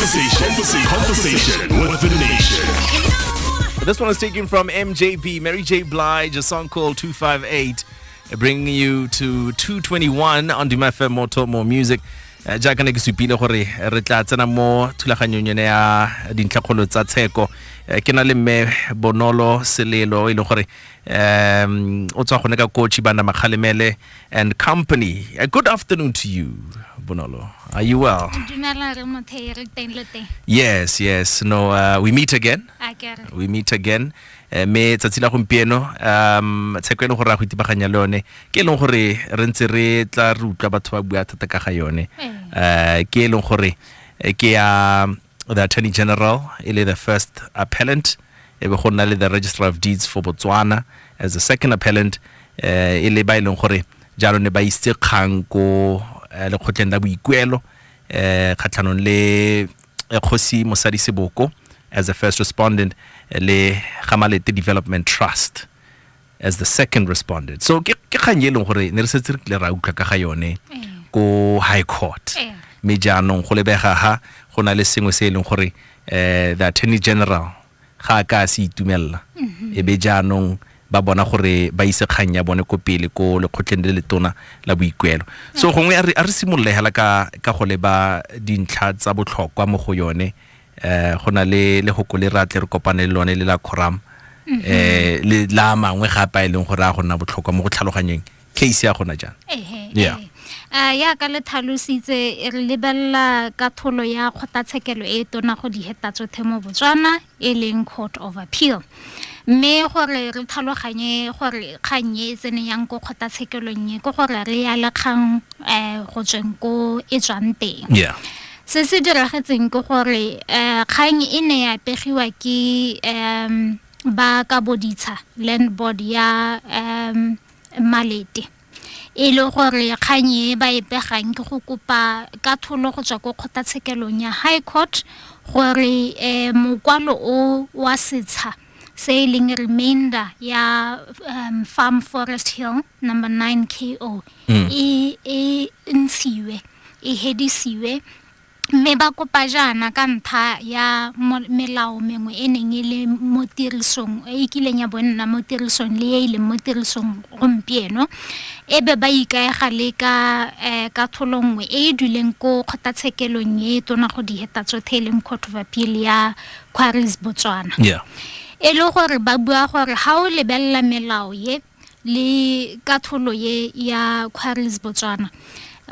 Conversation, conversation with the nation. This one is taken from MJB, Mary J. Blige, a song called 258, uh, bringing you to 221 on Dima FM More Talk More Music. Uh, jaaka ne ke supile gore re tla tsena mo thulaganyong yone ya dintlhakgolo tsa tsheko uh, ke na le mme bonolo selelo e leng gore um o tswa gone ka kotšhi bana makgalemele and Company. A good afternoon to you, Bonolo. Are you well? Yes, yes. No, uh, we meet again. We meet again. Eh, me tsatsi la gompieno um tsheko e leng gore a go itibaganya le yone ke e leng gore re ntse re tla re utlwa batho ba bua thata ka ga yone um ke e leng gore eh, ke ya the attorney general e le the first appellant e be go nna le the registrar of deeds for botswana as the second appellant um e le ba e leng gore jalo ne ba isitse kgang ko eh, lekgotleng la boikuelo um kgatlhanong le eh, kgosi mosadi seboko as the first respondent eh, le gamalete development trust as the second responded so ke ke kgang e leng gore ne re setse re kile ra utlwa ka ga yone ko high court Eh. mme jaanong go lebega ha go na le sengwe se e leng gore eh, the attorney general ga a ka a se itumelela e be jaanong ba bona gore ba ise kgang ya bone ko pele ko lekgotleng le letona la boikuelo so gongwe a re a re simololegela ka ka go leba dintlha tsa botlhokwa mo go yone eh go na le le go le ratle re kopane le lone le la quorum mhm. eh le la mangwe ga pa e leng gore a go nna botlhokwa mo go tlhaloganyeng case ya gona jang yeah eh. a ya ka le tlhalositse re lebelela ka tholo ya kgotlatshekelo e tona go di heta tsothe mo botswana e leng court of appeal mme gore re tlhaloganye gore kgang e tsene yang ko kgotlatshekelong e ke gore re ya le kgang um go tsweng ko e tswang teng Se se diragetseng ke gore um kgang e ne ya pegiwa ke um ba ka boditsha land board ya um malete e le gore kgang e ba e pegang ke go kopa ka tholo go tswa ko kgotlatshekelong ya high court gore um mokwalo o wa setsha se e leng remainder ya um, farm forest hill number 9 ko mm. e, e ntshiwe e hedisiwe mme ba kopa jaana ka ntlha ya melao mengwe e neng e le mo tirisong e e kileng ya bonna mo tirisong le e e leng mo tirisong gompieno e be ba ikaega le ka um ka tholo nngwe e e duleng ko kgotlatshekelong e e tona go diheta tsotlhe e leng court of appeal ya quarries botswana yeah. e le gore ba bua gore ga o lebelela melao ye le katholo ye ya quarries botswana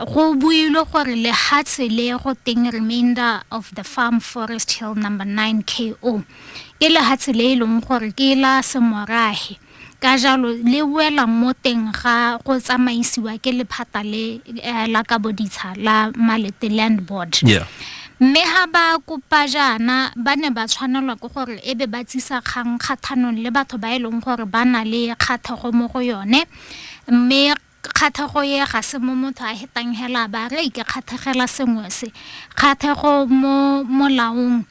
go builwe gore lehatshe le go teng remainder of the farm forest hill number 9 ko ke lehatshe le e leng gore ke la semorahe Ka jalo, le wela mo teng ga go tsamaisiwa ke lephata le eh, la kabo ditsha la Malete Land Board. Yeah. Mme ha ba kopa jaana ba ne ba tshwanelwa ke gore e be ba tsisa kgang kgathanong le batho ba e leng gore ba na le kgathego mo go yone mme kgathego ye ga se mo motho a hetang hela ba re ke kgathegela sengwe se kgathego mo molaong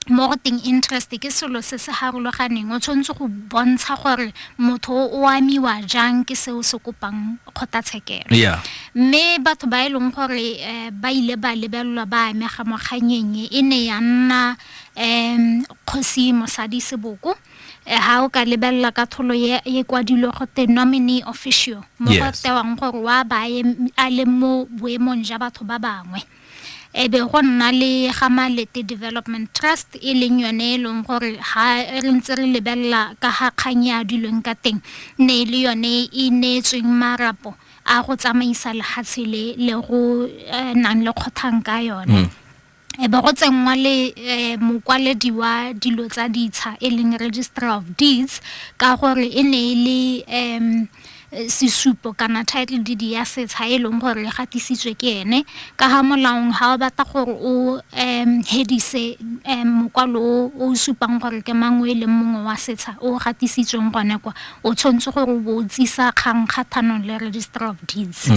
mo go teng interest ke selo se se harologaneng o tshwanetse go bontsha gore motho o amiwa jang ke seo se kopang kgotlatshekelo yeah mme batho ba e leng gore eh, ba ile ba lebelelwa ba amega mo kganyeng e ne ya nna um kgosi mosadi seboko Eh, ha o ka lebelela ka tholo ye ye kwadilwe go te nominee official mo go Yes. tewang gore wa baye a le mo boemong ja batho ba bangwe e be go nna le ga malete development trust e leng yone e leng gore ga re ntse re lebelela ka ga kgang ya dilweng ka teng ne e le yone e neetsweng marapo a go tsamaisa lehatshe le le go eh, nang le kgothang ka yone mm. e be go tsenngwa le eh, mokwaledi wa dilo tsa ditsha e leng registrar of deeds ka gore e ne e le um sesupo kana title deed ya setsha e leng gore le gatisitswe ke ene ka ga molaong ga o batla gore o um hedise um mokwalo o o supang gore ke mang o e leng mongwe wa setsha o gatisitsweng gone kwa o tshwanetse gore o bo o tsisa kgang kgathanong le registry of deeds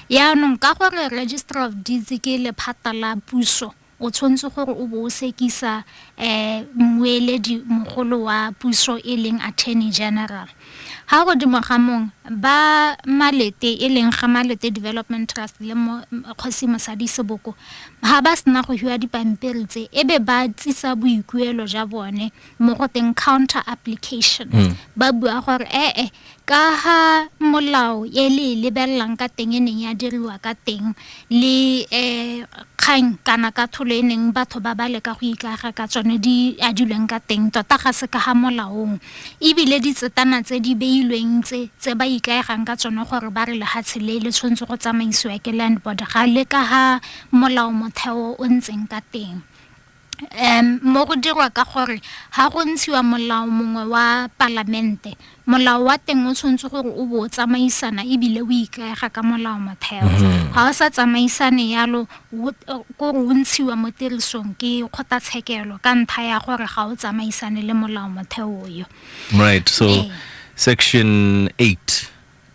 yaanong ka gore registry of deeds ke lephata la puso O tshwanetse gore o bo o sekisa mmueledi mogolo wa puso e leng Attorney General. Ga godimo ga mong ba Malete e leng ga Malete Development Trust le Kgosi Mosadi Seboko ga ba sena go hiwa dipampiri tse e be ba tsisa boikuelo ja bone mo go teng counter application ba bua gore ee Ka ha molao e le e lebelelang ka teng e neng ya diriwa ka teng le um kgang kana katlholo e neng batho ba ba leka go ikaega ka tsone di adilweng ka teng tota ga se ka ga molaong ebile ditsetana tse di beilweng tse tse ba ikaegang ka tsone gore ba re lefatshe le le tshwanetse go tsamaisiwa ke land board ga le ka ga molao motheo o ntseng ka teng. mo go dirwa ka gore ga go ntshiwa molao mongwe wa palamente molao wa teng o tshwanetse gore o bo o tsamaisana ebile o ikaega ka molao motheo mhm. ga o sa tsamaisane yalo kore o ntshiwa mo tirisong ke kgotlatshekelo ka ntlha ya gore ga o tsamaisane le molao motheo yo right so ee. section 8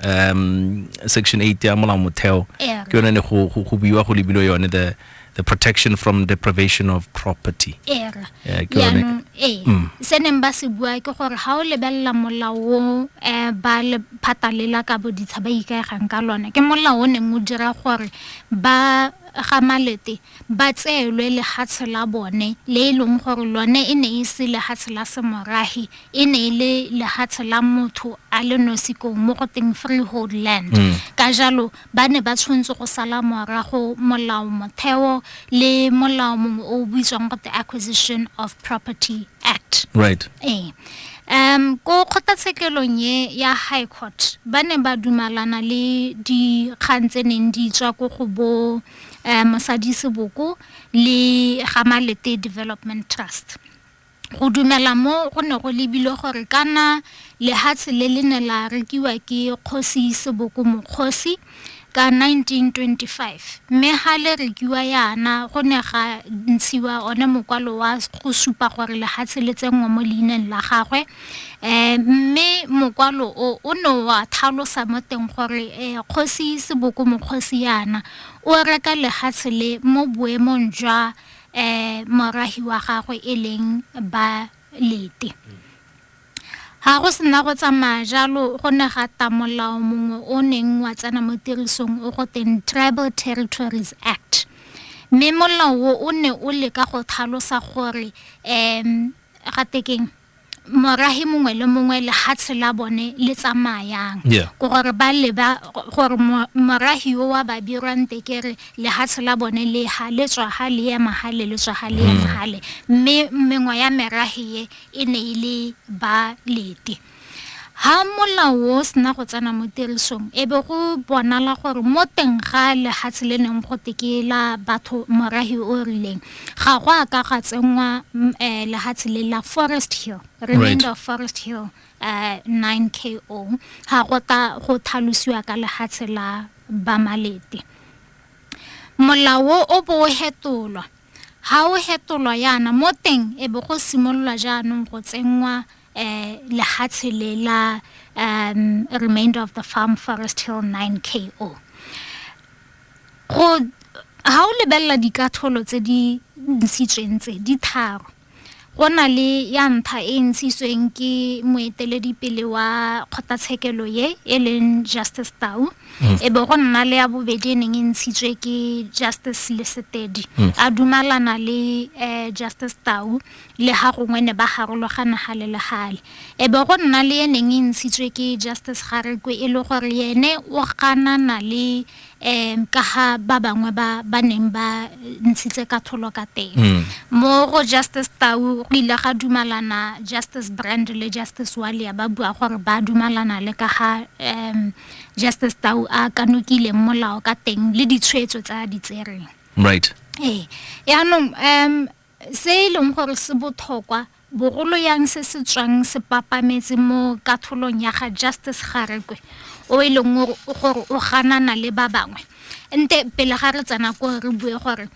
um section 8 ya molao motheo ke yone ne go go buiwa go lebilo yone the the protection from deprivation of property era yaanong ee mm. se neng ba se bua ke gore ga o lebelela molao o um eh, ba le phatalela ka boditsha ba ikaegang ka lone ke molao o neng o dira gore ba ga malete ba tseelwe lehatshe la bone le e leng gore lone e ne e se lehatshe la semorahi e ne e le lehatshe la motho a le nosi ko mo go teng freehold land mm. ka jalo ba ne ba tshwanetse go sala morago molao motheo le molao mongwe o o buitswang go the acquisition of property act right ee um ko kgotlatshekelong e ya high court ba ne ba dumalana le dikgang tse neng di tswa ko go bo um mosadi seboko le gamalete development trust Go dumela mo go ne go lebilwe gore kana lehatshe le le ne la rekiwa ke Kgosi Seboko Mokgosi ka 1925 mme ga le rekiwa yana go ne ga ntshiwa one mokwalo wa go supa gore lehatshe le tsenngwa mo leineng la gagwe um mme mokwalo o o ne wa thalosa mo teng gore um Kgosi Seboko Mokgosi yana o reka lehatshe le mo boemong jwa um morahi wa gagwe e leng Balete. Ga go sena go tsamaya jalo go ne ga ta molao mongwe o neng wa tsena mo tirisong o go teng Tribal Territories Act. Mme molao o o ne o leka go thalosa gore um ga tekeng morahi mongwe le mongwe lehatshe la bone le tsamayang yeah. ko gore ba leba gore morahi yo wa ba birwang tekere lehatshe la bone le ha le tswa ha le ema ha le le tswa ha le ema ha le mme mengwa ya merahi ye e ne e le ba lete ha molao o sena go tsena mo tirisong e be go bonala gore mo teng ga lehatshe le neng go tekela batho morahi o rileng ga go a ka ga tsenngwa mm, eh, lehatshe le la forest hill remainder of forest hill uh, 9 ko ga go ta go thalosiwa ka lehatshe la bamalete molao o bo o hetolwa ga o hetolwa yana mo teng e be go simololwa jaanong go tsenngwa um lehatshe le la um remainder of the farm forest hill 9 ko go ha o lebelela dikatholo tse di ntshitsweng tse di tharo go na le ya ntlha e ntshitsweng ke moeteledipele wa kgotlatshekelo ye e leng justice tau mm. e be go nna le ya bobedi e neng e ntshitswe ke justice lesetedi mm. a dumalana le um justice tau Lega gongwe ne ba garologana gale le gale, e be go nna le e neng e ntshitswe ke Justice Garekwe e le gore yene o ganana le um ka ga ba bangwe ba ba neng ba ntshitse katholo ka teng. Hmm. Mo go Justice Tau go ile ga dumalana Justice Brand le Justice Walia ba bua gore ba dumalana le ka ga um Justice Tau a kanokileng molao ka teng le ditshwetso tsa di tsereng. Right. Ee. Yaanong um Se e leng gore se bothokwa borolo yang se se tswang se papametse mo katholong ya ga Justice Garekwe o e leng gore o ganana le ba bangwe. Nte pele ga re tsena ko re bue gore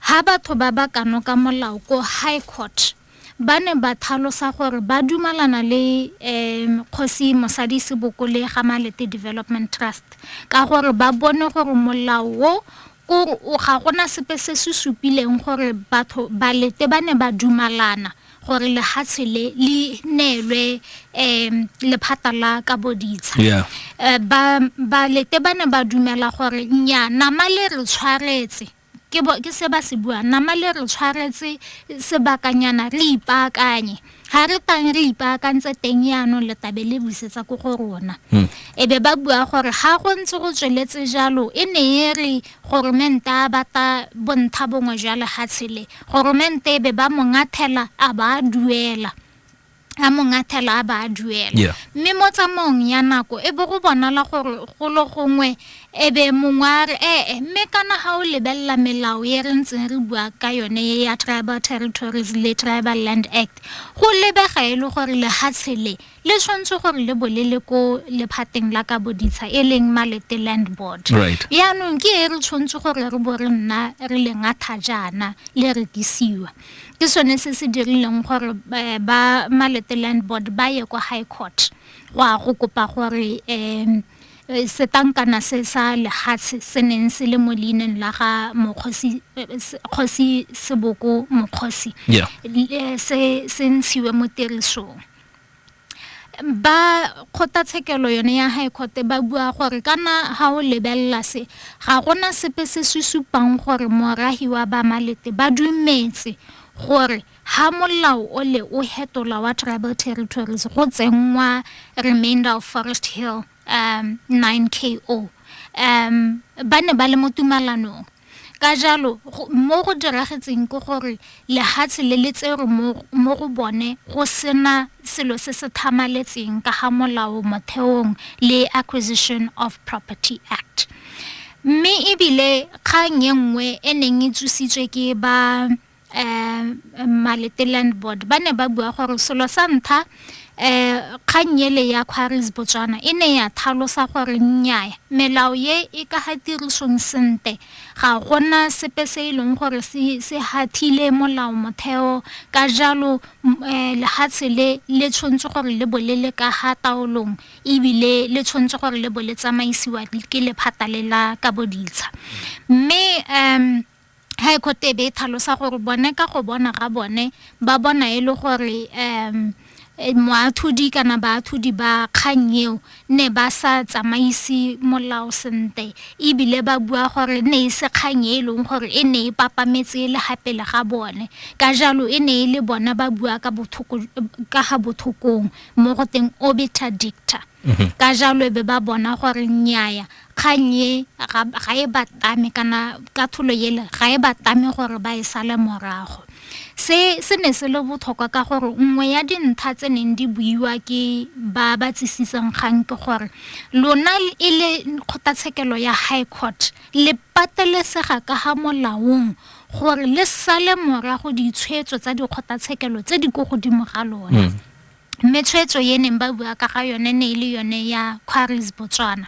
ha batho ba ba kanoka molao ko High Court ba ne ba thalosa gore ba dumalana le um kgosi mosadi sebokole ga malete development trust ka gore ba bone gore molao o Ko o ga gona sepe se se supileng gore batho balete ba ne ba dumalana gore lehatshe le le neelwe um lephata la ka boditsha yeah. Eh, ba balete ba ne ba dumela gore nya nama le re tshwaretse ke se ba se bua nama le re tshwaretse sebakanyana re ipaakanye ga re tang re ipaakantse teng yaanong letabe le busetsa ko go rona hmm. e be ba bua gore ga go ntse go tsweletse jalo e ne e re goromente a bata bontsha bongwe jwa lefatshe le goromente e be ba mongathela a ba a duela a mongathela a ba a duela mme mo tsamaong ya nako e bo go bonala gore golo gongwe E be mongwe a re ee, mme kana ga o lebelela melao e re ntseng re bua ka yone e ya Tribal Territories le Tribal Land Act, go lebega e le gore lehatshe le le tshwanetse gore le bo le le ko lephateng la ka boditsha e leng Malete Land Board. Right. Yaanong ke e re tshwanetse gore re bo re nna re le ngatha jaana le rekisiwa. Ke sone se se dirileng gore eh, ba Malete Land Board ba ye kwa High Court go a go kopa gore um Setankana se sa lehatshe se neng se le mo leineng la ga mokgosi kgosi seboko mokgosi yeah. se se ntshiwe mo tirisong ba kgothatshekelo yone ya high court ba bua gore kana ha o lebelela se ga gona sepe se se supang gore morahi wa bamalete ba dumetse gore Ha molao o le o hetolwa wa Tribal Territories go tsenngwa Remainder of Forest Hill um 9 KO um ba ne ba le mo tumalanong ka jalo mo go diragetseng ke gore lehatshe le le tserwe mo go bone go sena selo se se thamaletseng ka ga molao motheong le Acquisition of Property Act mme ebile kgang e nngwe e neng e tsositswe ke ba um Malete Land Board ba ne ba bua gore selo sa ntlha um kgang ele ya Quarries Botswana e ne ya thalosa gore nnyaya melao ye e ka ga tirisong sente ga gona sepe se e leng gore se se hathile molao motheo ka jalo um lehatshe le le tshwanetse gore le bo le le ka ga taolong ebile le tshwanetse gore le bo le tsamaisiwa ke lephata le la ka boditsha mme um High Court e be e tlhalosa gore bone ka go bona ga bone ba bona e le gore um eh, moathodi kana baathodi ba kgang eo ne ba sa tsamaise molao sentle ebile ba bua gore ne e se kgang e e leng gore e ne e papametse le ga pele ga bone ka jalo e ne e le bona ba bua ka bothoko ka ga bothokong mo go teng obiter dicta ka jalo e be ba bona gore nnyaya kgang e ga, ga e ba tame kana katlholo ele ga e ba tame gore ba e sale morago se se ne se le botlhokwa ka gore nngwe ya dintlha tse neng di buiwa ke ba ba tsisisang kgang ke gore lona e le kgotlatshekelo ya high court le patelesega ka ga molaong gore le sale morago ditshwetso tsa dikgotlatshekelo tse di ko godimo ga lona mm. Mme tshwetso e neng ba bua ka ga yone ne e le yone ya Quarries Botswana.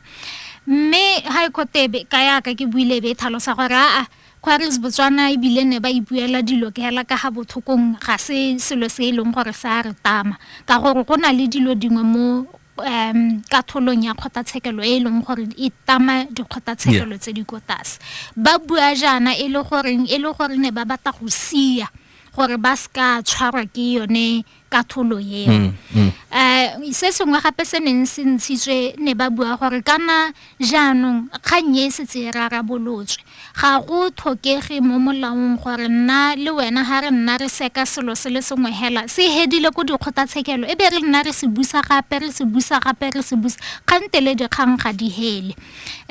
Mme High Court e ka yaka ke buile be e tlhalosa gore aa Quarries Botswana ebile ne ba ipuela dilo ke hela ka ga bothokong ga se selo se e leng gore se a re tama ka gore go na le dilo dingwe mo um katholong ya kgotlatshekelo e e leng gore e tama dikgotlatshekelo tse di ko tlase ba bua jaana e le goreng e le gore ne ba batla go sia gore ba se ka tshwarwa ke yone katholo eo mm, mm. Eh, se sengwe gape se neng se ntshitswe ne ba bua gore kana jaanong kgang e setse e rarabolotswe ga go tlhokege mo molaong gore nna le wena ga re nna re seka selo se le sengwe hela se hedile ko dikgotlatshekelo e be re nna re se busa gape re se busa gape re se busa kgantele dikgang ga di hele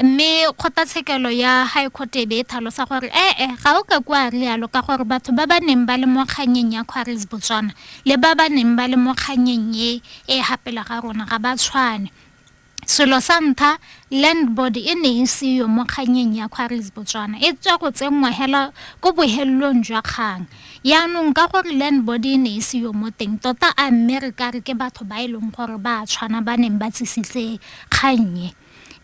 mme kgotlatshekelo ya high court e be e tlhalosa gore ee eh, eh, ga o ka kwa rialo ka gore batho ba ba neng ba le mo kganyeng ya quaris botswana le ba ba neng ba le mo kganyeng e e gapela ga rona ga ba tshwane selo sa ntlha land board e ne e seyo mo kganyeng ya quaris botswana e tswa go tsenngwa hela ko bohelelong jwa kgang yaanong ka gore land board e ne e seyo mo teng tota a mme re ka re ke batho ba e leng gore ba tshwana ba neng ba tsisitse kgannye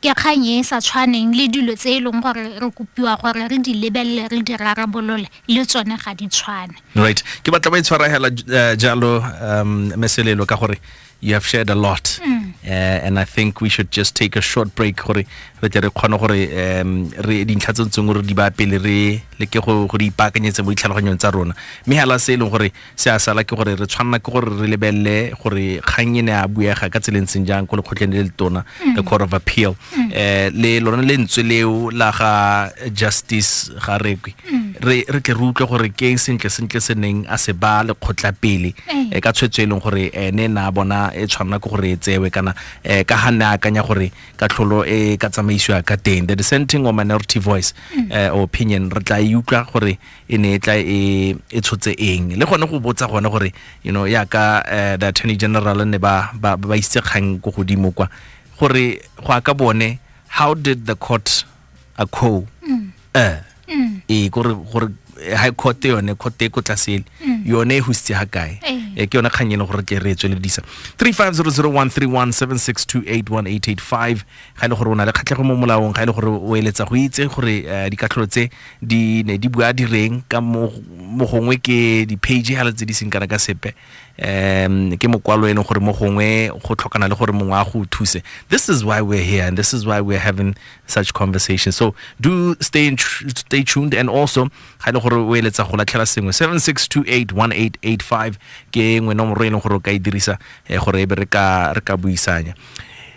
Ke kgang e e sa tshwaneng le dilo tse e leng gore re kopiwa gore re di lebelele re di rarabolole le tsone ga di tshwane right ke batla ba e tshwaragela eh, jalo um meselelo ka gore you have shared a lot mm. uh, and i think we should just take a short break gore re tle re kgone gore um re dintlha tse tsengwe re di ba pele re leke go go di ipaakanyetse mo ditlhaloganyong tsa rona mme hela se e leng gore Se a sala ke gore re tshwanela ke gore re lebelele gore kgang e ne a buega ka tseleng seng jang ko lekgotleng le le tona mm. the court of appeal mm. eh le lona lentswe leo la ga justice ga rekwe mm. re re tle re utlwe gore ke eng sentle sentle se neng a se ba lekgotla pele eh. Eh, ka tshwetso e leng gore ene eh, na bona e tshwanela ke gore e tsewe kana ka ga ne a akanya gore ka tlholo e ka tsamaisiwa ka teng the dissenting or minority voice opinion re tla e utlwa gore e ne e tla e e tshotse eng le gone go botsa gone gore you know ya ka eh, the attorney general ne ba ba ba isitse kgang ko godimo kwa gore go aka bone how did the court acco eh e gore gore eh, high court yone court e ko tlasele yone e husitse ha kae Eh. e ke yone kgang e leng gore tle re e tsweledisa 350013176281885 ga e le gore o na le kgatlhego mo molaong ga e le gore o eletsa go itse gore eh, dikatlholo tse di ne di bua direng ka mo mo gongwe ke di-page hela tse di seng kana ka sepe um ke mokwalo e leng gore mo gongwe go tlhokana le gore mongwe a go thuse this is why we're here and this is why we're having such conversations so do stay, in tr- stay tuned and also ga e le gore o eletsa go latlhela sengwe 76281885 ke nngwe nomoro e leng gore o ka e dirisa eh, gore e be re ka re ka buisanya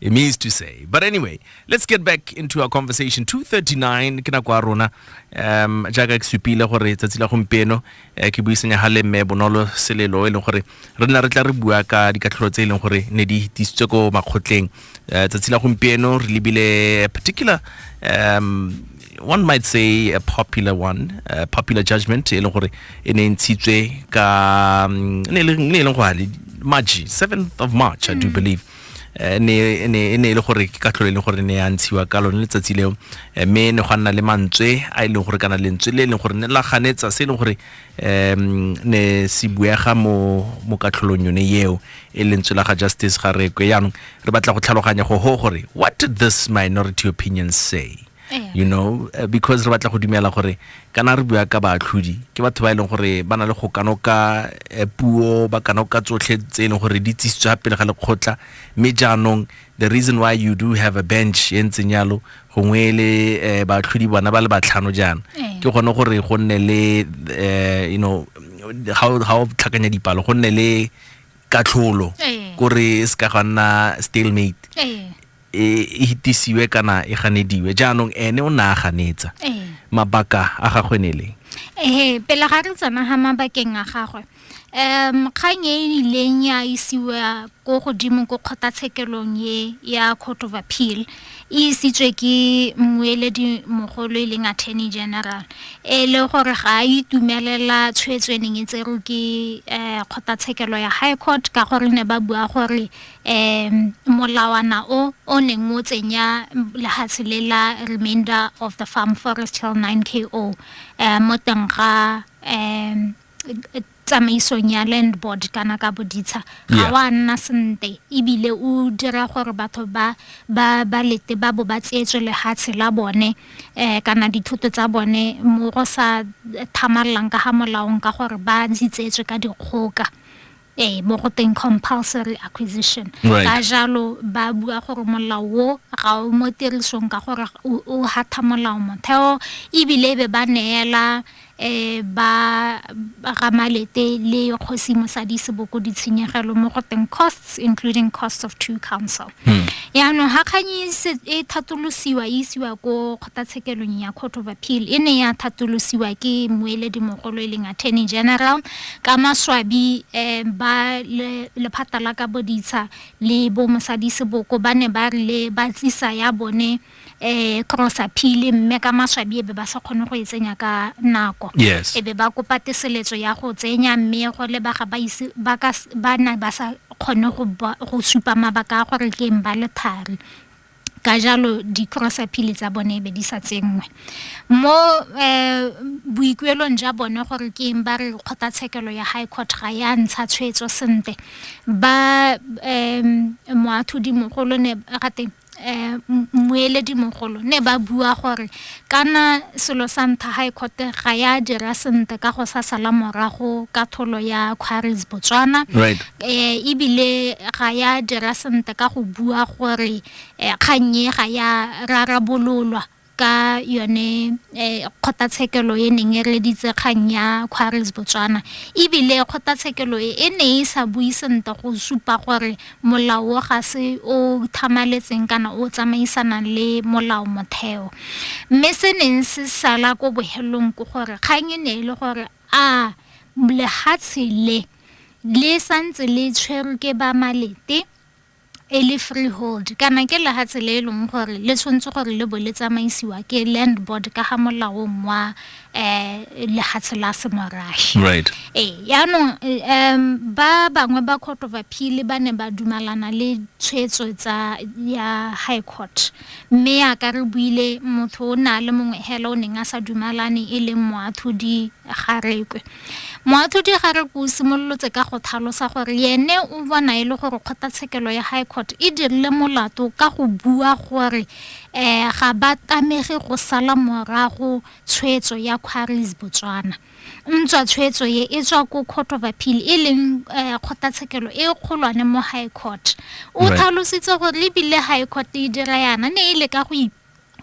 It means to say. But anyway, let's get back into our conversation. 239 ke nako ya rona um jaaka ke supile gore tsatsi la gompieno eh, ke buisanya ga le mme bonolo selelo e leng gore re nna re tla re bua ka dikatlholo tse e leng gore ne di tisitswe ko makgotleng eh, tsatsi la gompieno re lebile particular um one might say a popular one a popular judgment e leng gore e ne e ntshitswe ka mm, ne e leng gore maji 7th of march i do mm. believe eh, ne ne ne e le gore ke katlholo e leng gore ne ya ntshiwa ka lone letsatsi leo eh, mme ne gwa nna le mantswe a e leng gore kana lentswe le e leng gore ne la ganetsa se e leng gore um ne se buega mo mo katlholong yone eo e lentswe la ga justice ga rekwe yaanong re batla go tlhaloganya go ho gore what did this minority opinion say you know eh, because re batla go dumela gore kana re bua ka baatlhodi ke batho ba e leng gore ba na le go kanoka eh, puo ba kanoka tsotlhe tse e leng gore di tsisitswe ga pele ga lekgotla mme jaanong the reason why you do have a bench e ntseng yalo gongwe le eh, baatlhodi bona ba le batlhano jaana ke gone gore go nne le you know ga o tlhakanya dipalo go nne le katlholo kore se ka ga nna stalemate e e hitisiwe kana e ganediwe jaanong ene o ne a ganetsa Ee. mabaka a gagwe ne e leng Ee, pele ga re tsena ga mabakeng a gagwe um kgang e e ileng ya isiwa ko godimo ko kgotlatshekelong e ya court of appeal e isitswe ke mmueledi mogolo e leng attorney general e le gore ga a itumelela tshwetso e neng e tserwe ke um kgotlatshekelo ya high court ka gore ne ba bua gore um molawana o o neng o tsenya lehatshe le la remainder of the farm forest till 9 ko um mo teng ga um tsamaisong ya land board kana ka boditsha ga wa nna sente ebile o dira gore batho ba ba ba lete ba bo ba tseetswe lehatshe la bone um kana dithoto tsa bone mo go sa thamalelang ka ga molaong ka gore ba di tseetswe ka dikgoka Ee, mo go teng compulsory acquisition. Right. Ka jalo ba bua gore molao wo ga o mo tirisong ka gore o o hatha molao motheo ebile e be ba neela eh ba ba ga malete le kgosi mosadi seboko ditshenyegelo mo go teng costs including costs of two counsel. Hmm. yaanong ga kganye e thatolosiwa e isiwa ko kgotlatshekelong ya court of appeal e ne ya thatolosiwa ke moeledi mogolo e leng attorney general ka maswabi um ba lephata la ka boditsha le bo mosadi seboko ba ne ba rile ba tlisa ya bone cross-a phili mme ka maswabi e be ba sa kgone go e tsenya ka nako yes e be ba kopa teseletso ya go tsenya mme go lebaga ba ise ba ka s- ba na ba sa kgone go ba- go supa mabaka a gore ke eng ba le thari ka jalo di-crossa phili tsa bone e be di sa tsenngwe mo um boikuelong ja bone gore ke eng ba re kgotlatshekelo ya high court ga ya ntsha tshwetso sentle ba um moatlhodimogolo ne ga teng um mmueledimogolo ne ba bua gore kana selo sa ntha high court ga ya dira sentle ka go sa sala morago ka tholo ya quarries botswana right. um ebile ga ya dira sentle ka go bua gore um kgannye ga ya rarabololwa ka yone eh, kgotlatshekelo e neng e reditse kgang ya quarries botswana ebile kgotlatshekelo e e ne e sa bui sentle go supa gore molao ga se o thamaletseng kana o tsamaisanang le molao motheo mme se neng se sala ko bohelong ke gore kgang e ne e le gore a lehatshe le le santse le tshwerwe ke ba malete e le freehold kana ke laha tsela e leng gore le tshwanetse gore le bo le tsamaisiwa ke land board ka ga molaong wa um lehatshe la semorashi right ee yaanong um ba bangwe ba court of appeal ba ne ba dumalana le tshwetso tsa ya high court mme yaka re buile motho o ne a le mongwe hela o neng a sa dumalane e leng moathodi Garekwe. Moatlhodi Garekwe o simololotse ka go thalosa gore yene o bona e le gore kgotlatshekelo ya High Court e dirile molato ka go bua gore um ga ba tamege go sala morago tshwetso ya Quarries Botswana. Ntswa tshwetso ye e tswa ko Court of Appeal e leng um kgotlatshekelo e kgolwane mo High Court. O Right. tlhalositse gore ebile High Court e dira yana ne e le ka go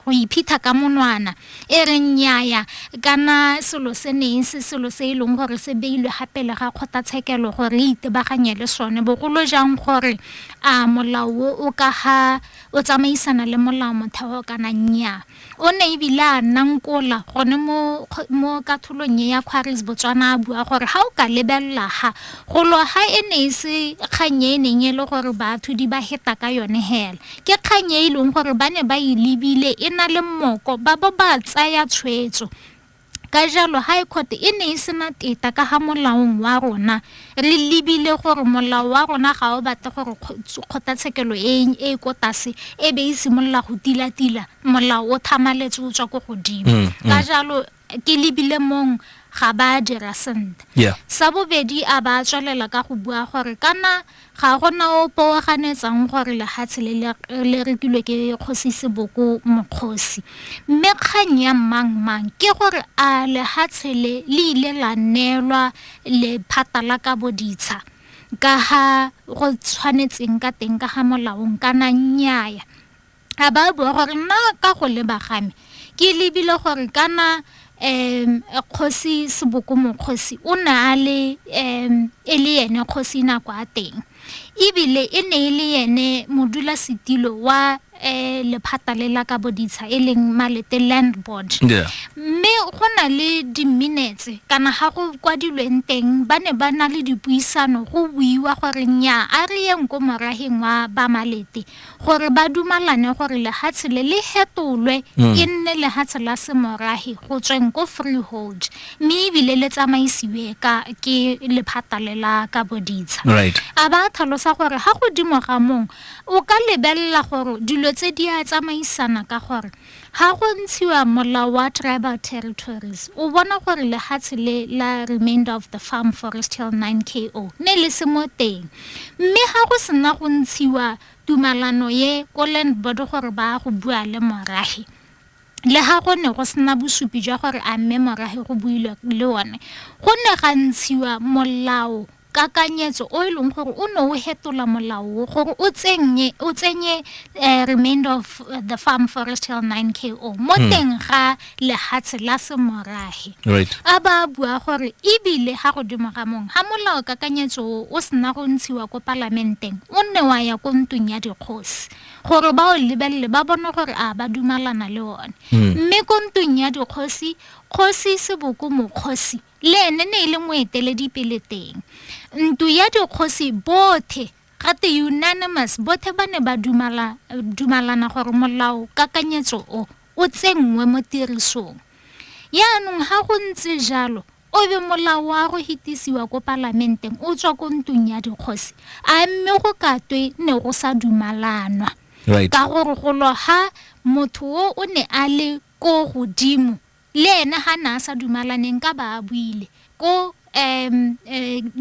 go iphitha ka monwana e reng nnyaya kana selo se neng se selo se e leng gore se beilwe gape le ga kgotlatshekelo gore re itebaganye le sone bogolo jang gore a molao o o ka ga o tsamaisana le molao motheo kana nnyaa o ne ebile a nna nkola gone mo mo katholong e ya kgwaris botswana a bua gore ga o ka lebelela ga golo ga e ne e se kgang e neng e le gore batho di ba heta ka yone hela Ke kgang e e leng gore ba ne ba e lebile e na le mmoko ba bo ba tsaya tshwetso. Ka jalo High Court e ne e sena teta ka ga molaong wa rona. Re lebile gore molao wa rona ga o batle gore kgotlatshekelo e e ko tlase e be e simolola go tilatila molao o thamaletse o tswa ko godimo. Ka jalo ke lebile mong ga ba dira sentle yeah. sa bobedi a ba tswelela ka go bua gore kana ga gona o poaganetsang gore lehatshe le rekilwe ke kgosi seboko mokgosi mme kgang ya mang mang ke gore a lehatshe le le ile la neelwa lephata la ka boditsha ka ga go tshwanetseng ka teng ka ga molaong kana nnyaya a ba bua gore nna ka go leba game ke lebile gore kana um kgosi seboko mokgosi o ne a le um e le ene kgosi nako a teng ebile e ne e le ene modula setilo wa um lephata le la ka boditsha e leng malete land board mme go na le di-minutes kana ga go kwadilweng teng ba ne ba na le dipuisano go buiwa gore nya a re yeng ko morageng wa ba malete gore ba dumalane gore lehatshe le le hetolwe mm. e nne lehatshe la semorahi go tsweng ko freehold mme ebile le tsamaisiwe ka ke lephata le la ka boditsha a ba tlhalosa gore ga godimo ga mong o ka lebelela gore dilo tse di a tsamaisana ka gore Ha go ntshiwa molao wa tribal territories, o bona gore lehatshe le la remainder of the farm forest hill 9 KO ne le se mo teng. Mme ha go sena go ntshiwa tumalano ye ko land board gore ba go bua le morahe, le ha go ne go sena bosupi jwa gore a mme morahe go builwe le one, go ne ga ntshiwa molao kakanyetso o e leng gore o ne o hetola molao gore o tsenye o tsenye eh, remainder of eh, the farm forest hill 9 ko mo hmm. teng ga lehatshe la semorahe right. a ba bua gore ebile ga godimo ga mong ga molao kakanyetso o o sena go ntshiwa ko palamenteng o nne wa ya ko ntong ya dikgosi gore ba o lebelele ba bone gore a ba dumalana le one hmm. mme ko ntong ya dikgosi kgosi seboko mokgosi le ene ne e le moeteledipele teng. Ntu ya dikgosi bothe gate unanimous bothe ba ne ba dumala, dumalana gore molao kakanyetso o o tsenngwe mo tirisong yaanong ga go ntse jalo o be molao wa go hitisiwa ko palamenteng o tswa ko ntung ya dikgosi a mme go katwe ne go sa dumalanwa right. ka gore golo ga motho o o ne a le ko godimo Le ene ga ne a sa dumalaneng ka ba a buile ko um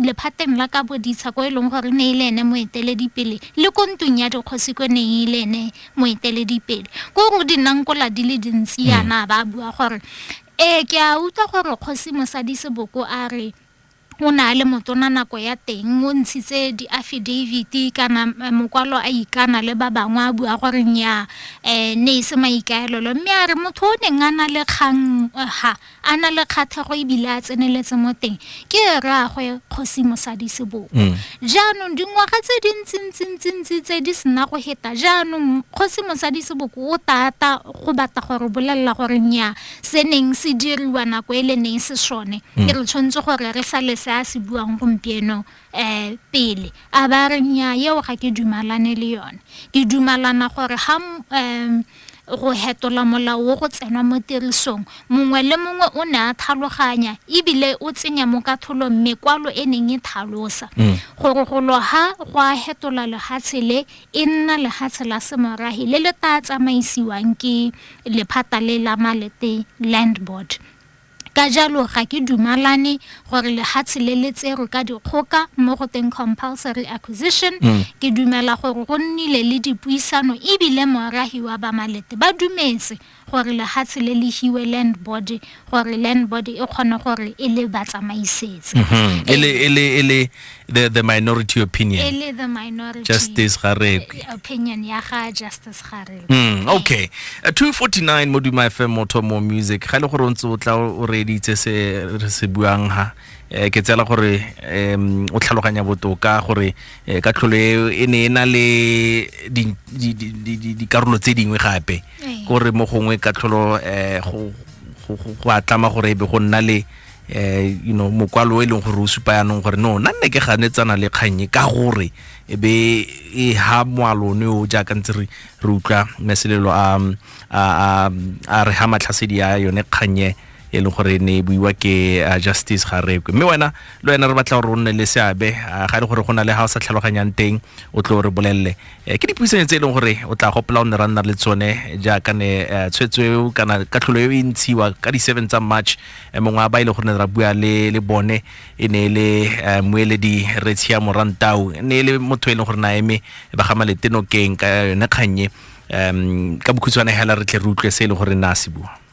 lephateng la ka boditsha ko e leng gore ne e le ene moeteledipele le ko ntung ya dikgosi ko neng e le ene moeteledipele ko go di nnang kola di le dintsi yana ba bua gore ee ke a utlwa gore kgosi mosadi seboko a re o ne a le motona nako ya teng o ntshitse diafidaviti kana mokwalo a ikana le ba bangwe a bua gore nnyaa um ne e se maikaelelo mme a re motho o neng a na le kgang ha a na le kgatlhego ebile a tseneletse mo teng ke rraagwe kgosi mosadi seboko mm. jaanong dingwaga tse di ntsintsintsintsintsi tse di sena go heta jaanong kgosi mosadi seboko o tata go batla gore bolelela gore nnyaa se neng se diriwa nako e le neng se sone mm. e re tshwanetse gore re sale se a se buang gompieno um pele a ba re nya eo ga ke dumalane le yone ke dumalana gore ga um go hetola molao wo go tsenwa mo tirisong mongwe le mongwe o ne a tlhaloganya ebile o tsenya mo katholong mekwalo e neng e thalosa mm. gore go loga go a hetola lehatshe le e nna lehatshe la semorahi le le tla tsamaisiwang ke lephata le la malete land board ka jalo ga ke dumalane gore lehatshe le le tserwe ka dikgoka mo go teng compulsory acquisition mm. ke dumela gore go nnile le dipuisano ebile morahi wa bamalete ba dumetse gore lehatshe le le hiwe land board gore land board e kgone gore e le ba tsamaisetse mhm. e le e le e le the the minority opinion e le the minority justice garekwe opinion ya ga justice garekwe mm okay uh, 249 moduma fm moto mo music ga le gore o ntse o tla o reditse se re se buang ha eh, ke tsela gore um o tlhaloganya botoka gore eh, ka tlholo e ne e na le dikarolo tse dingwe gape eh. gore mo gongwe ka tlholo um go a tlama gore e be go nna le eh you know mokwalo e leng gore o supa yanong gore no nna nne ke ganetsana le kgannye ka gore e be e ha moalone o jaaka ntse re re utlwa meselelo a a re ha matlhasedi ya yone kgannye e leng gore ne e buiwa ke justice ga rekwe mme wena le wena re batla gore o nne le seabe ga e le gore go na le ga o sa tlhaloganyang teng o tlo re bolelele Eh, ke dipuisanyo tse e leng gore o tla gopela o ne ra nna le tsone jaaka ne eh, tshwetso eo kana katlholo eo e ntshiwa ka di-seven tsa march eh, mongwe a ba e le gore ne ra bua le le bone e ne e le moeledi retshia morantau e ne e le motho e leng gore na eme ba ga maletenokeng ka yone kgannye um ka bokhutshwane hela re tle re utlwe se e leng gore na se bua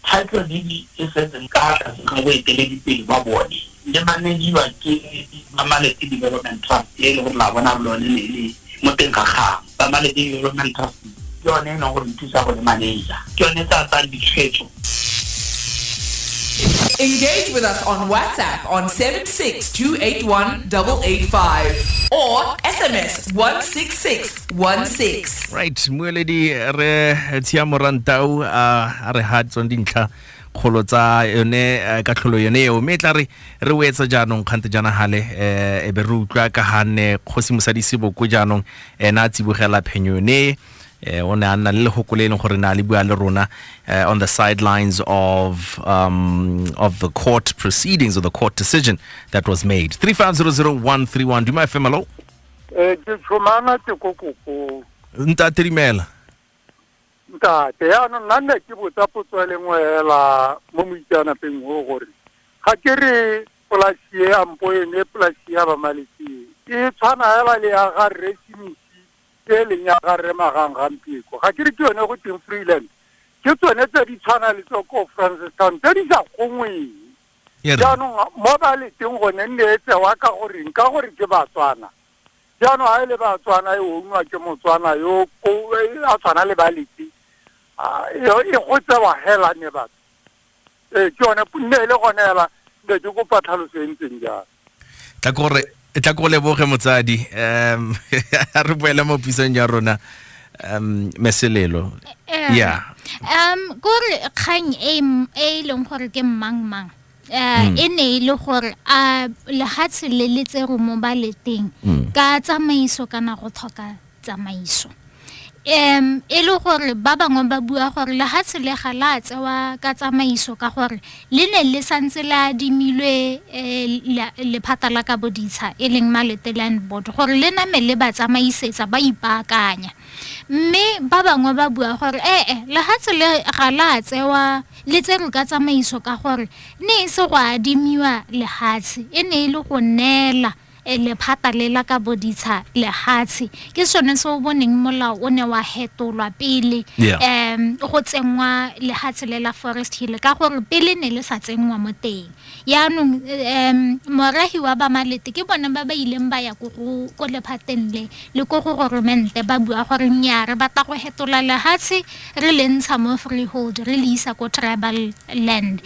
Kgaitlhodidi e setseng ka fa tlase ga boeteledipele ba bone le manediwa ke ba Malete Development Trust e e leng gore la bona gore lone ne le mo teng ga gagwe. Ba Malete Development Trust ke yone e leng gore e thusa go le maneja, ke yone e tla tsayang ditshwetso. Engage with us on WhatsApp on 76 281 885 or SMS 166 16 right mueledi re tshia morantau a re ha tsong dintlha kgolo tsa yone eh, ka tlholo yone eo mme e tla re re o etsa jaanong kgante jana gale um eh, e be re utlwa ka ganne kgosi mosadi seboko jaanong ena a tsibogela phenyo yone eh, o ne a nna le legoko le e leng gore ne a le bua le rona eh, on the sidelines of um, of the court proceedings or the court decision that was made 3500131 duma fm hello Eh ke tshomana te ko kopong. Nta trimela. Ntate, ya no nna nne ke botsa potso e lengwe hela mo moitseanapeng o gore ga ke re polasi e ya mpo ene polasi ya bamaletse e tshwana hela le ya ga rre simisi e leng ya ga rre magang gampieko ga ke re ke yone go teng freeland ke tsone tse di tshwana le tsoko francis town tse di sa gongweng E re. jaanong mo ba leteng gone nne e tsewa ka goreng ka gore ke batswana jaanong ga e le batswana e ongwa ke motswana yo ko e a tshwana le ba lete Ah, e e go tsewa hela ne batho ee ke yone nne e le gone hela ne ke kopa tlhaloso e ntseng jalo tla ko re tla ko leboge motsadi um a re boele mo pisong ya rona um meselelo eh, ya um kore kgang e, e e leng gore ke mmang mang um e ne e le gore a lehatshe le le tse romo ba le teng hmm. ka tsamaiso kana go tlhoka tsamaiso. Um, e le gore ba bangwe ba bua gore lehatshe le ga la tsewa ka tsamaiso ka gore le ne le santse le adimilwe eh, lephata la ka boditsha e leng malete land board gore le name le ba tsamaisetsa ba ipaakanya mme ba bangwe ba bua gore ee eh, eh, lehatshe le ga la tsewa le tserwe ka tsamaiso ka gore ne e se go adimiwa lehatshe e ne e le go neela Lephata le la ka boditsha lehatshe ke sone se o boneng molao o ne wa hetolwa pele um go tsenngwa lehatshe le la forest hill ka gore pele ne le sa tsenngwa mo teng yaanong um morahi wa bamalete ke bone ba ba ileng ba ya ko lephateng le le ko go goromente ba bua gore nnyaa re batla go hetola lehatshe re le ntsha mo freehold re le isa ko tribal land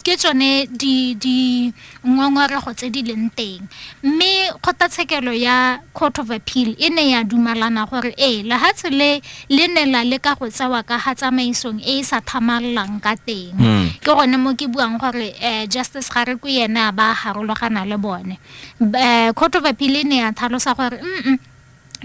ke tsone di ngongorego tse di leng teng mme kgotlatshekelo ya court of appeal e ne ya dumalana gore ee lehatshe le le ne la le ka go tsewa ka ga tsamaisong e e sa thamalelang ka teng hmm. ke gone mo ke buang gore um justice ga re ko ene a ba harologana le bone um court of appeal e ne ya thalosa gore mm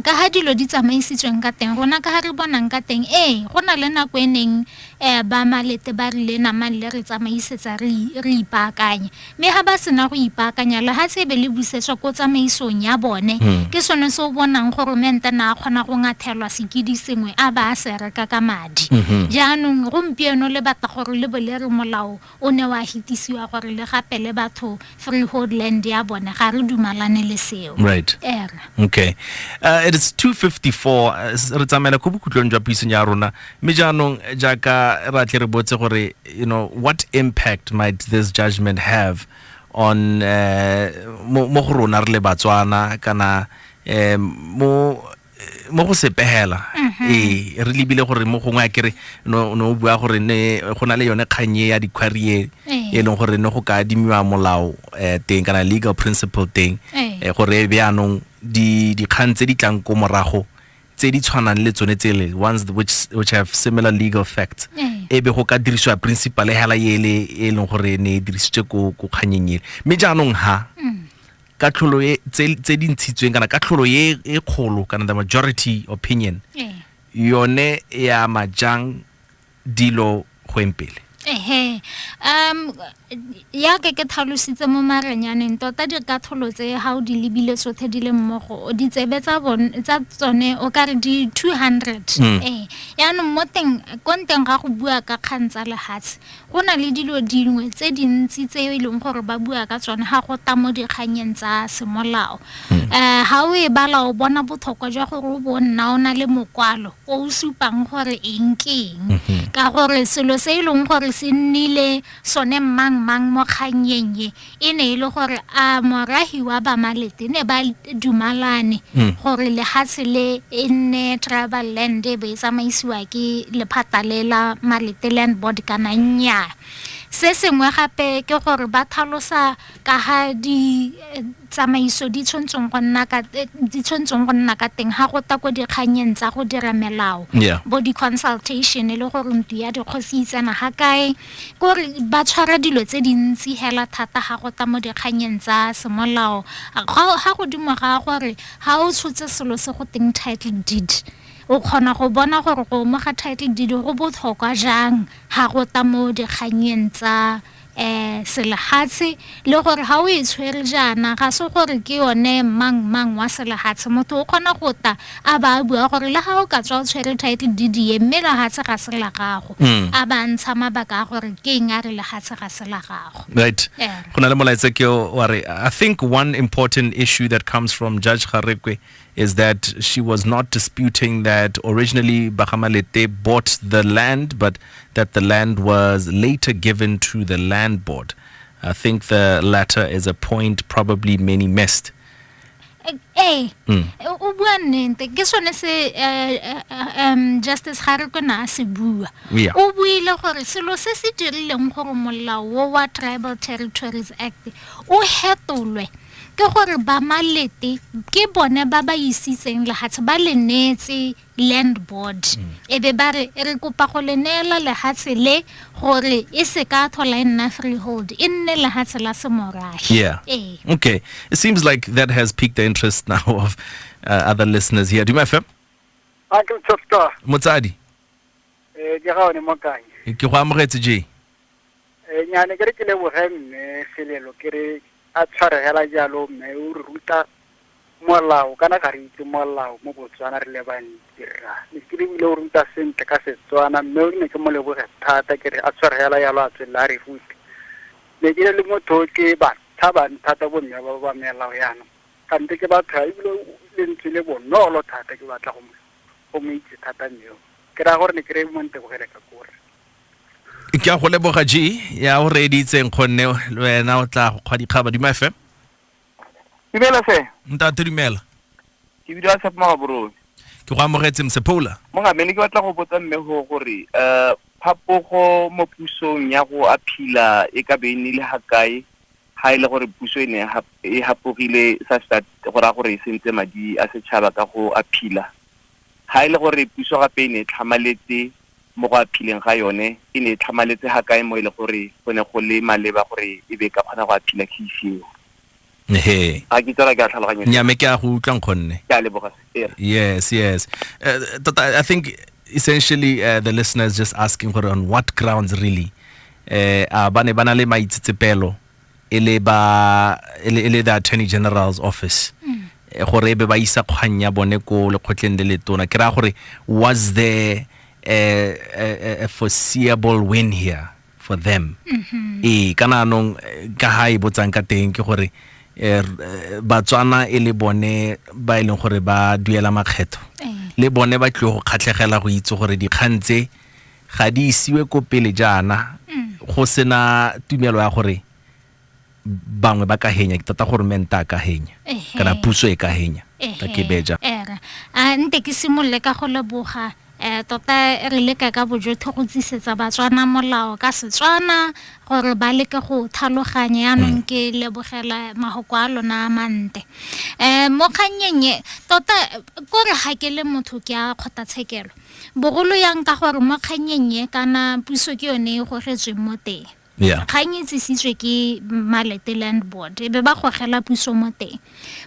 ka ha dilo di tsamaisitsweng ka teng rona ka ha re bonang ka teng ee go na le nako e neng um ba malete ba rile namang le re tsamaisetsa re ipaakanye mme ga ba sena go ipaakanya lehatshe ebe le busetswa ko tsamaisong ya bone hmm. ke sone se o bonang goromente na a kgona go ngathelwa sekedi sengwe a ba a se reka ka madi hmm. jaanong gompieno le batla gore le bo le re molao O ne wa hitisiwa gore le gapele batho freehold land ya bone ga re dumalane le seo. Right. Era. Okay. Uh, it is 254 re tsamaela ko bokhutlong jwa puisong ya rona mme jaanong jaaka ra tle re botse gore you know what impact might this judgment have on uh, mo go rona re le batswana kana um, mo mo go sepegela mhm. ee re lebile gore mo gongwe a kere no o bua gore ne go na le yone kgannye ya dikhwarie ee. e leng gore ne go ka adimiwa molao um teng kana legal principle teng ee. eh, gore e be anong dikgang tse di tlang ko morago tse di tshwanang le tsone tsele ones which, which have similar legal facts ee. e be go ka dirisiwa principal hela ele e leng gore ne e dirisitswe ko kganyeng ele mme jaanong ha mm. katlholo e tse tse di ntshitsweng kana katlholo e e kgolo kana the majority opinion Eh. yone e ama jang dilo go eng pele ehe um ya ke ke tlhalositse mo marenyaneng tota dikatlholo tse ga o di lebile tsotlhe di le mmogo o ditsebe tsa bon- tsa tsone o ka re di 200 Mm. ee yaanong mo teng ko nteng ga go bua ka kgang tsa lefatshe Go na le dilo dingwe tse dintsi tse e leng gore ba bua ka tsone ga go ta mo dikganyeng tsa semolao um ga o e bala o bona botlhokwa jwa gore o bo nna o na le mokwalo o o supang gore eng ke eng ka gore selo se e leng gore se nnile sone mmang mang mo kgannyeng e e ne e le gore a morahi wa bamalete ne ba dumalane mm. gore lehatshe le e nne travel land e be e tsamaisiwa ke lephata le la malete land board kana nnyaa se sengwe gape ke gore ba thalosa ka ga di eh, tsamaiso di tshwantseng go nna ka eh, di tshwantseng go nna ka teng ga go ta ko dikganyeng tsa go dira melao bo di-consultation e le gore ntu ya dikgosi itsena ga kae ke gore ba tshwara dilo tse dintsi hela thata ga go tla mo dikganyeng tsa semolao ga godimo ga gore ga o tshotse selo se go teng title deed o kgona go bona gore go mo ga title deed go botlhokwa jang ga go tla mo dikganyeng tsa um selegatshe Le gore ga o e tshwere jaana, ga se gore ke yone mang-mang wa selehatshe. Motho o kgona go ta a ba a bua gore le ga o ka tswa o tshwere title deed e, mme lehatshe ga se la gago, a ba a ntsha mabaka a gore ke eng a re lehatshe ga se la gago. Right. Ere. Go na le molaetsa ke o wa re, I think one important issue that comes from Judge Garekwe is that she was not disputing that originally Bagamalete bought the land, but that the land was later given to the land board. I think the latter is a point probably many missed. ee o bua nnete ke sone se eh, eh, eh, um justice ga re kona a se bua Yeah. o buile gore selo se se dirileng gore molao wo wa tribal territories act o hetolwe ke gore ba malete ke bone ba ba isitseng lehatshe ba le neetse land board mm. e be ba re re kopa go le neela lehatshe le gore e se ka thola e nna freehold e nne lehatshe la semorahe yeah e. okay it seems like that has piqued the interest now of uh, other listeners here duma fm a ke tsoto motsadi eh ke ga one mo kae ke go amogetse je Ee, nyaa ne ke re ke leboge mme Selelo ke re, a tshware hela jalo mme o re ruta molao, kana ga re itse molao mo Botswana re le bantsi rra. Lekile o ile o ruta sentle ka Setswana mme o ne ke mo leboge thata ke re a tshware hela jalo a tswelele a re rute. Ne ke le motho o ke ba tshabang thata bo mme ba ba melao yana, kante ke batho ya ebile o lentswe le bonolo thata ke batla go mo, go mo itse thata mme o. Ke raya gore ne ke re mo ntebogele ka ko re. ke a go leboga g ya o reeditseng kgonne le wena o tla go kgwa dikgaba dima fm dumela se ntate dumela ke bidiwa tshepo magaborone ke go amogetse msephola mogamene ke batla go botsa mme go gore um phapogo mo pusong ya go aphila e ka be e nile ga kae ga e le gore puso e ne e hapogile sa gore a gore e sentse madi a setšhaba ka go aphila Ha e le gore puso gape e ne e tlhamaletse mo go aphileng ga yone, e ne e tlhamaletse ga kae mo e le gore go ne go le maleba gore e be e ka kgona go aphila case eo? He. Ga ke tsara ke a tlhaloganya. Nya me ke a go utlwa nkgonne. Ke a leboga. Yes, yes. Uh, tota, I think essentially uh, the listeners just asking gore on what grounds really uh, a ba ne ba na le maitsetsepelo e le ba e le e le the attorney general's office Eh, gore e be ba isa kgang ya bone ko lekgotleng le le tona ke raya gore was there a, a, a- a foreseeable win here for them ee kana anong eh, ka ha e botsang ka teng ke gore eh, r- eh, batswana e le bone ba e leng gore ba duela makgetho le bone ba tlile go kgatlhegela go itse gore dikgang tse ga di isiwe ko pele jaana go sena tumelo ya gore bangwe ba ka henya ke tota gore menta a ka henya Ehe. kana puso e ka henya ka ke beja ere a nte ke simolole ka go leboga um tota re leka ka bojotho go tsisetsa batswana molao ka setswana gore ba leke go thaloganya yanong ke lebogela magoko a lona a mante um mo kgannyeng e tota eh, kore ga ke le motho ke a kgothatshekelo bogolo yang ka gore mo kgannyeng ye kana puso ke yone e gogetsweng mo teng yeah. kgang e tsisitswe ke malete land board e be ba gogela puso mo teng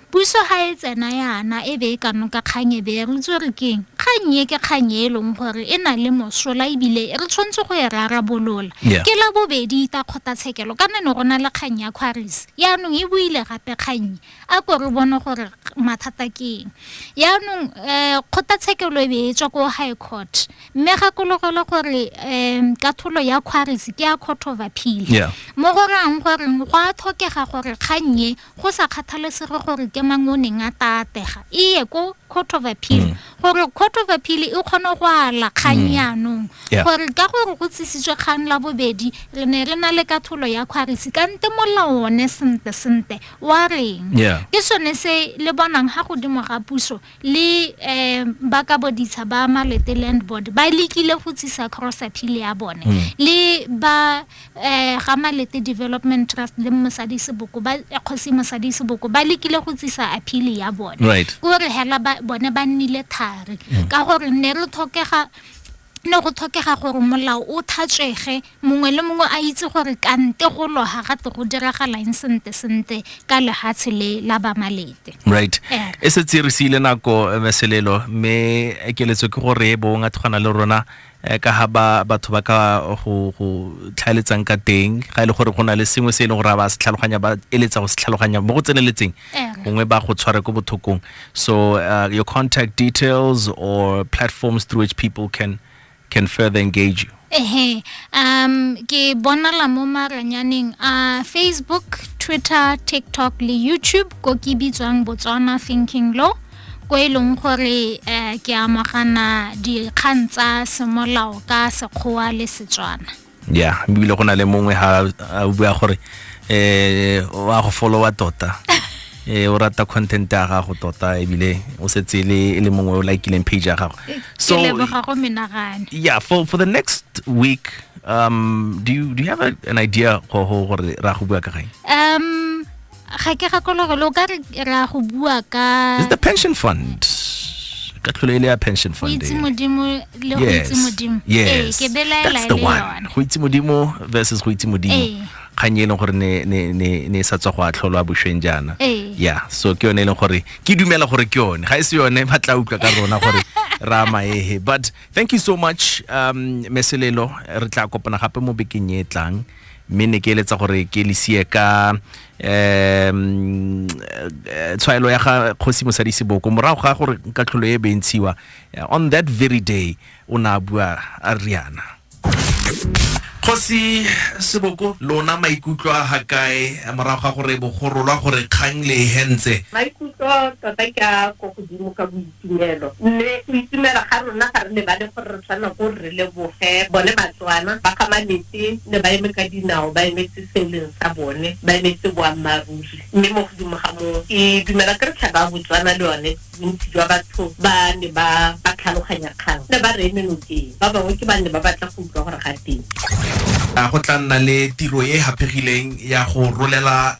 puso ga e tsena yana e be e ka noka kgang e be e re itse gore keng kgang e ke kgang e leng gore e na le mosola ebile re tshwanetse go e rarabolola yeah. ke la bobedi ita kgotlatshekelo kana ne go na le kgang ya quaris yaanong e buile gape kgang a ko re bone gore mathata ke eng yaanong um kgotlatshekelo e be e tswa ko high court mme gakologelwe gore um katholo ya quaris ke ya court of appeal Yeah. mo go rayang gore go a tlhokega gore kgang e go sa kgathalesege gore ke mang o neng a tatega e ye ko court of appeal gore court of appeal e kgone go ala kgang yaanong Yeah. gore ka gore go tsisitswe kgang la bobedi re ne re na le katholo ya quaris kante molao one sente sente wa reng yeah. ke sone se le bonang ha godimo ga puso le um ba ka boditsha ba malete land board ba lekile go tsisa cross appeal ya bone mm. le ba um ga malete development trust le mosadi seboko ba eh, kgosi mosadi seboko ba lekile go tsisa appeal ya bone right. ko re hela bone ba nnile thari mm. ka gore ne re tlhokega ne go tlhokega gore molao o thatswege Mongwe le mongwe a itse gore kante go loga gape go diragalang sente-sente ka lehatshe le la Bamalete. Right. Yeah. E setse re siile nako eh, meselelo mme keletso ke gore e bong a tshwana le rona eh, ka ha ba batho ba ka go go tlhaeletsang ka teng ga e le gore go na le sengwe se e leng gore a ba se tlhaloganya ba eletsa go se tlhaloganya mo go tseneletseng Yeah. gongwe ba go tshware ko bothokong so uh, your contact details or platforms through which people can can further engage you. Ehe, um, ke bonala mo maranyaneng a uh, Facebook, Twitter, TikTok le YouTube ko ke bitswang Botswana Thinking Law ko e leng gore uh, ke amogana dikgang tsa semolao ka Sekgowa le Setswana. ya ebile go na le mongwe ha a bua gore eh wa go followa tota eh o rata content ya gago tota ebile o setse e le e le mongwe o likileng page ya gago so ke leboga go menagane yeah for for the next week um do you do you have a, an idea go go gore ra go bua ka gae um ga ke gakolo gore lo ka re ra go bua ka the pension fund ka tlholo e le ya pension fund itse modimo le go itse modimo ee ke belaela le yone go itse modimo versus go itse modimo ee. kgang e leng gore ne ne ne ne sa tswa go a tlholwa boshweng jaana ee. ya so ke yone e leng gore ke dumela gore ke yone ga e se yone ba tla utlwa ka rona gore ra maehe but thank you so much um meselelo re tla kopana gape mo bekeng e tlang mme ne ke eletsa gore ke le sie ka um tshwaelo ya ga kgosi mosadi seboko morago ga gore ka tlholo e bentshiwa eh, on that very day o ne a bua a riana kgosi seboko lona maikutlo a ga kae morago ga gore bogorolwa gore kgang le e hentse maikutlo tota ke a ko godimo ka boitse Tumelo. Mme go itumela ga rona ga re lebale gore re tshwanela ko re leboge bone Batswana ba ga Malete ne ba eme ka dinao ba emetse se e leng sa bone, ba emetse boammaaruri. Mme mo godimo ga moo ke dumela ke re tlhaba ya Botswana le yone bontsi jwa batho ba ne ba ba tlhaloganya kgang ne ba re eme nokeng, ba bangwe ke ba ne ba batla go utlwa gore ga teng. A go tla nna le tiro e e haphegileng ya go rolela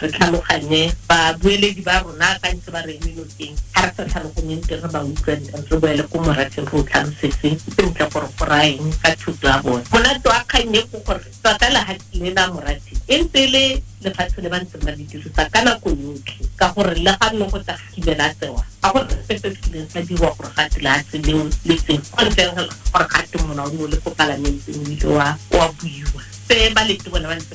Re tlhaloganye babueledi ba rona ba ntse ba re eme nokeng. Ga re sa tlhaloganyeng teng re ba utlwa nteng, re boele ko morafe re o tlhalosetse sentle gore go raya eng ka thoto ya bone. Monate wa kgang e ke gore tota lehatshe le la morafe e ntse e le lefatshe le ba ntseng ba le dirisa ka nako yotlhe ka gore le ga nne go tla ga kile la tsewa, ga go na sepe se kileng sa dirwa gore ga twe lehatshe leo le tsewe ko ntleng ga gore ga twe molao o ne o le ko palamenteng o ile wa buiwa. Se ba lete bone ba ntse